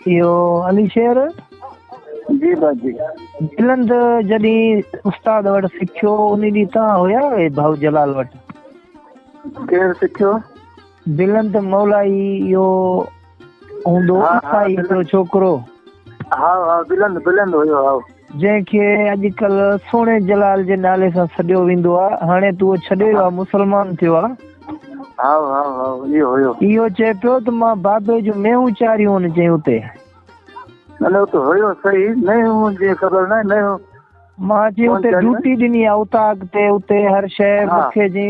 اهو علي شير جي باجي جلند جڏي استاد وٽ سکيو ان ڏي تا هيا اي ڀاو جلال وٽ ڪير سکيو جلند مولائي يو هوندو عيسائي هڪڙو ڇوڪرو. هاء هاء بلند بلند هيو هاء. جنهن کي اڄڪلهه سهڻي جلال جي نالي سان سڏيو ويندو آ هاڻي تو اهو ڇڏي ويو آ مسلمان ٿيو آ. هاء هاء هاء اهو هيو. اهو چئي پيو ته مان بابي جون مينهون چاريون ان چئي اتي. نه نه اتي هيو صحيح مينهون جي خبر ناهي مينهون. مان چئي اتي ڊوٽي ڏني آ اتان اڳتي اتي هر شيء مکي جي.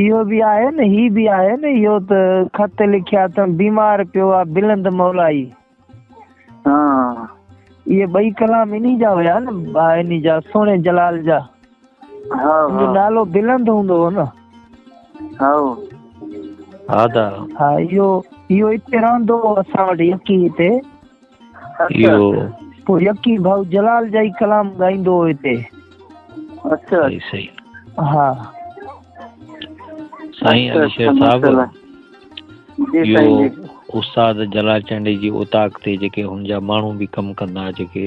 اهو به آهي نه هي به آهي نه اهو ته خط لکيا اٿم بيمار پيو آ بلند مولائي ها اهي ٻئي ڪلام انهي جا هيا نه انهي جا سهڻي جلال جا ها ها نالو بلند هوندو هو نه ها ها دا ها اهو اهو اتي رهندو هو اسان وٽ يڪي هتي اهو پوء يقين ڀائو جلال جا ئي ڪلام ڳائيندو هو هتي اچا صحيح صحيح ها سائين علي شير صاحب اهو استاد جلال چانڊي جي اوطاق تي جيڪي هن جا ماڻهو به ڪم ڪندا جيڪي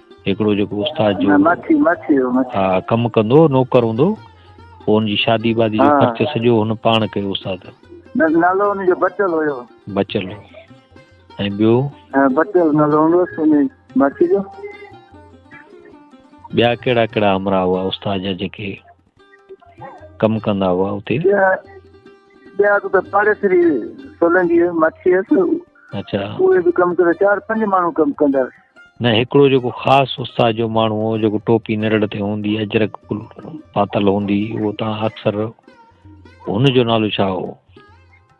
هڪڙو جيڪو استاد جو ها ڪم ڪندو نوڪر هوندو پوء ان جي شادي وادي جو خرچ سڄو هن پاڻ ڪيو استاد نالو ان جو بچل هيو بچل ۽ ٻيو بچل نالو هوندو ان ماکي جو ٻيا ڪهڙا ڪهڙا امرا هئا استاد جا جيڪي ڪم ڪندا هئا اتي ٻيا اڳ ۾ پاڙيسري سولنگي مڇي هيس اچا اهي به ڪم ڪندا چار پنج ماڻهو ڪم ڪندا نه هڪڙو جيڪو خاص استاد جو ماڻهو هو جيڪو ٽوپي نرڙ تي هوندي اجرڪ پاتل هوندي اهو تان اڪثر هن جو نالو ڇا هو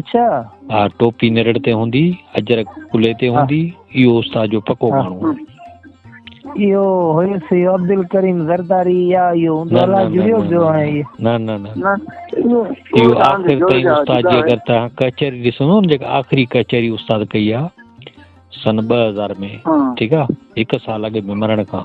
اڇا ها ٽوپي نرڙ تي هوندي اجرڪ ڪلي تي هوندي اهو استاد جو پڪو ماڻهو آهي اهو هيس يو عبدالڪريم زرداري يا يو دولا جڙيو جو آهي نه نه نه يو آخر تائين استاد جي اگر ته ڪچهري ڏسو نه جيڪا آخري ڪچهري استاد ڪئي آ سن 2000 ۾ ٺيڪ آ هڪ سال اڳ ۾ مرڻ کان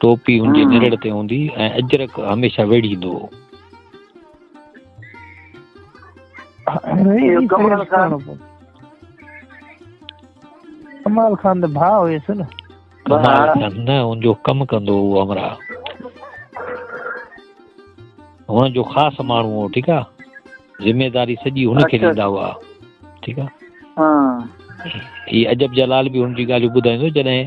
ٽوپي هن جي نرڙ تي هوندي ۽ اجرڪ هميشه ويڙهيندو هو. ڪمال خان ڀاء هيس نه ڪمال خان نه ان جو ڪم ڪندو هو همرا هن جو خاص ماڻهو هو ٺيڪ آ ذميواري سڄي هن کي ڏيندا هئا ٺيڪ آ هي عجب جلال به هن جي ڳالهيون ٻڌائيندو جڏهن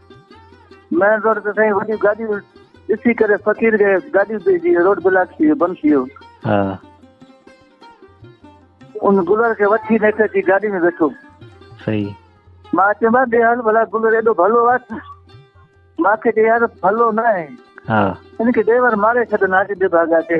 مين روڊ تي سائين وڏيون گاڏيون ڏسي ڪري فقير کي گاڏيون ڏي جي روڊ بلاڪ ٿي بند ٿي ويو ها ان گلر کي وٺي نه ٿي گاڏي ۾ ويٺو صحيح مان چيم ڏي حال بلا گلر ايڏو ڀلو آهي مان کي ڏي يار ڀلو نه آهي ها ان کي ڊرائيور ماري ڇڏن آج ڏي ڀاڳا کي